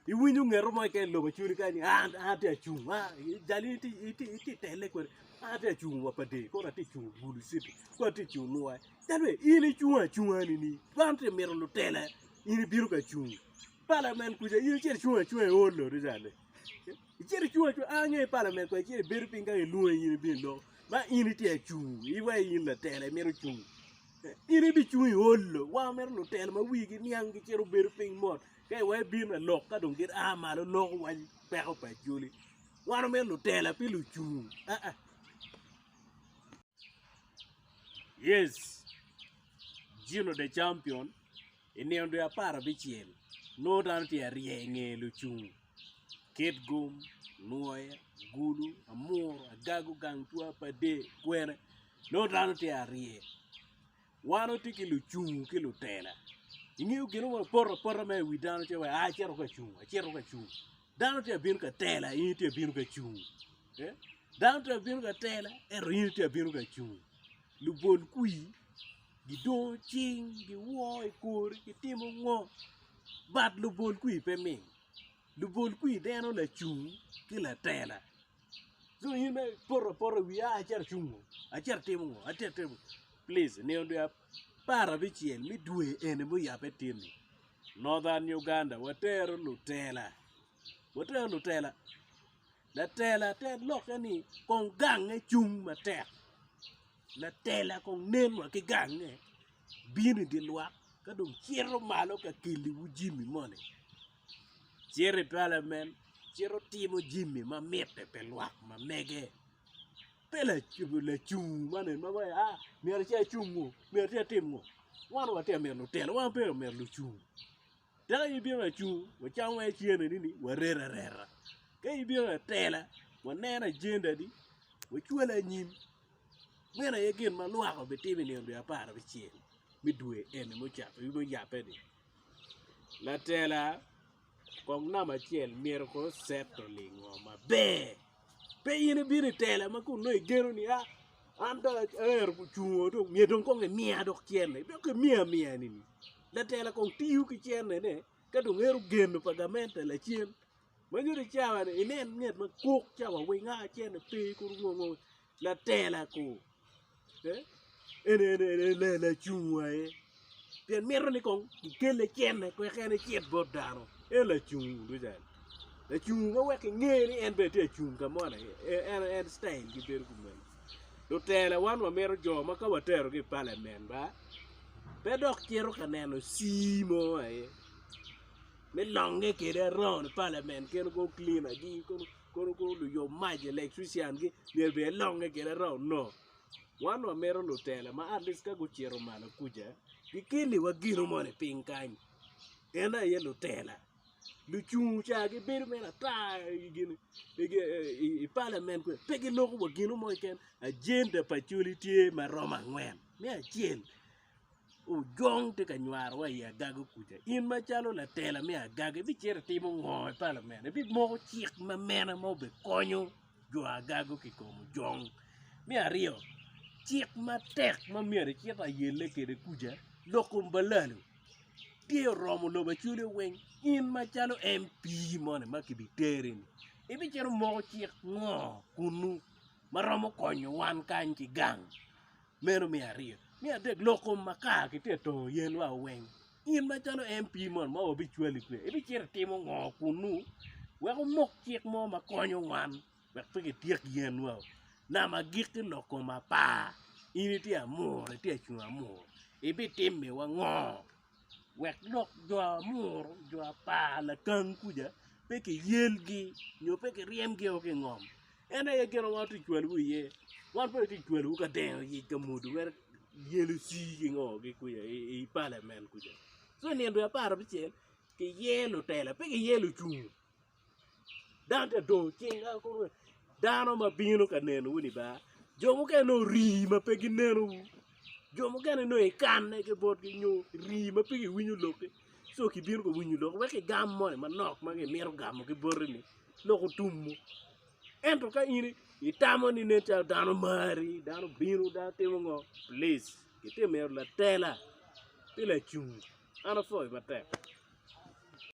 Iwinyo ngeto mo keken i lobo cwini kany ni an atye ka cung ma jal itye tele kwede an atye ka cung wa pa dee kong atye ka cung bulu city kong atye ka cung nwaci dano ni in icung acunga nini wan tye ka mito lutela in ibino ka cung palamen kuca in icito icung acunga i holo rica ni icito icung acunga a ange palamen kong icito ibedo piny kany ilwongi in ibino iloko ma in itye ka cung iweko in latela imito cung In ibicung i ot lo, wa ma mere lutela ma wigi niang gicito gubedo piny mot, ka iwaco ibino ka lok ka dong gin a malo loko waco peko pa Acholi. Wan omito lutela pi lucung aa. Yes, Gino the champion, i nino dwe apar abicel nongo dano tye arye i nge lucung. kit gum, nwoya, gulu, amuru, agagu, gang twa, pader, kwena nongo dano tye arye wan watye ki lucung ki lutela ingeyo gin mo mapoto apota ma iwi dano ce wai acito ka cung acito ka cung dano tye abino ka tela in itye abino ka cung eh dano tye abino ka tela ento in itye abino ka cung lubol kwir. Gidongo cing, giwo i kor, gitimo ngo? But lubol kwir pe mit, lubol kwir deno lacung ki latela. Co in mere ipoto apota i wiye a acito acung o, acito atimo ngo, acito atimo ngo. Plic, nino dwe apar abicel me dwe eni muyabbe tyenni, Northern Uganda watero lutela, watero lutela. Latela te lokke ni kong gange cung matek, latela kong nen wa ki gange bino i dye lwak ka dong cito malo ka keliwu jami moni, cito i palamen cito timo jami ma mitte pi lwak ma mege. Pe lacung moni ma waci a myero acung ngo myero atim ngo, wan watye ka mito lutela wan pe watye ka mito lucung. Tika in ibino wa cung wacam wa icene ni ni warer arera? Ka in ibino wa tela waneno ajenda ni wacwale anyim? Meno aye gin ma lwak obitimo i nino dwe apar abicel me dwe eni muyabe ni. Latela kong namba acel myero kong oseto lingo maber. Pe in ibino i tela ma kun nongo igeno ni a an dong aero cung oo myero dong kong imiya dok cente dok imiya miya ni. Latela kong tiyo ki cene ne ka dong ero geno pa gamente lacen. Manyo ni cawa ni inen nget ma kok cawa weng a cene pe kur ngo ngo latela kong eh en en en en lacung wa aye pien mito ni kong kikelle cene wek en ecit bot dano en lacung duca ni. Lacung ma wek inge ni en bene tye acung ka mo ni en en en citayil gi bedo kumeno. Lutela wan wamito jo ma ka waterogi i palamen ba Pe dok cito ka neno cii mo aye me longe kwede around the parliament kene kono cleaner gi kono luyub mac electrician gi myero obed elonge kwede around no wan wa mito lutela ma at least ka gucito malo kuca gikeliwa gino moni piny kany en aye lutela. lucung ca gibedo mere ata i palamen kwe pe giloko wa gino mo keken ajenda pa col tye ma romo angwen me acel ojong tye ka nywaro wa i agaga kuca in macalo latela me agaga ibicito itimo ngo i palamen ibimoko cik ma mene ma obikonyo jo agaga ki kom ojong me aryo cik matek ma myero icit ayelle kwede kuca lok kom pa lalu. tye oromo lobo acwele weng in macalo MP moni ma kibiteri ni ibicito moko cik ngo kunnu ma romo konyo wan kany ki gang meno me aryo, me adek lok kom makar ki te tongo yen wa weng in macalo MP moni ma wabicwali kwede ibicito itimo ngo kunnu wek wumok cik mo ma konyo wan. wek pe kityek yenwa, nam agikki lok kom apar in itye amuru itye acung amuru ibitimiwa ngo wek lok jo amuru jo apar lakang kuca pe kiyelgi nyo pe kiryemgi ki i ngom en aye gin ma wan watye ka cwalowu iye wan pe watye ka cwalowu ka deno yec ka mwodo mere yel oci ki ngo kuca i palamen kuca ci i nino dwe apar abicel kiye lutela pe kiye lucung. Dante dong ocing kany kun oweko dano ma bino ka nenowu ni bar, jo mukene dong orii ma pe ginenowu, jo mukene dong ikanne ki botgi nyo irii ma pe giwinyo lokki so kibino ka winyo lokki wek igam moni manok ma gimito gamo ki botini lok otumwu. Ento ka in itamo ni nen calo dano mari, dano obino, dano timo ngo, plic itimmi latela ki lacungu, an apwoyi matek.